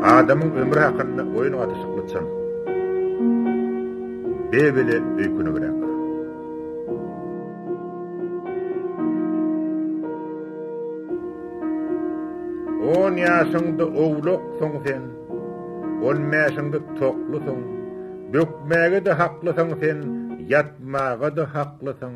Adamyň ömri hakynda oýun gatyşykly çyn. Bebele öýkünigräk. On ýaşyňda owlaksyň sen, on mäşiňde toklusyň, bökmäge-de haklysyň sen, ýatmaga-da haklysyň.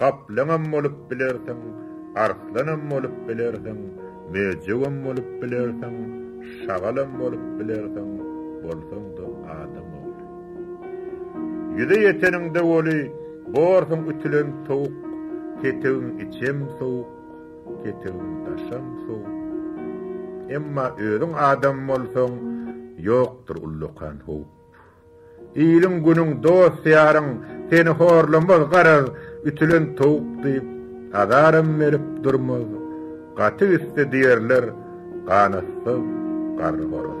Gaplaňam bolup bilersiň, arslanam bolup bilersiň, möjegem bolup bilersiň, şagalam bolup bilersiň, bolsaň-da adam ogly. Ýüze ýeteniňde weli, borsuň ütülen sowuk, ketegiň içem sowuk, ketegiň daşam sowuk. Emma özüň adam bolsaň, ýokdur ullakan howp. Iliň günüň dost ýaryň seni horlamaz garaz ütülen towuk diýip azaram berip durmaz gaty üsti diýerler ganatsyz garry horaz.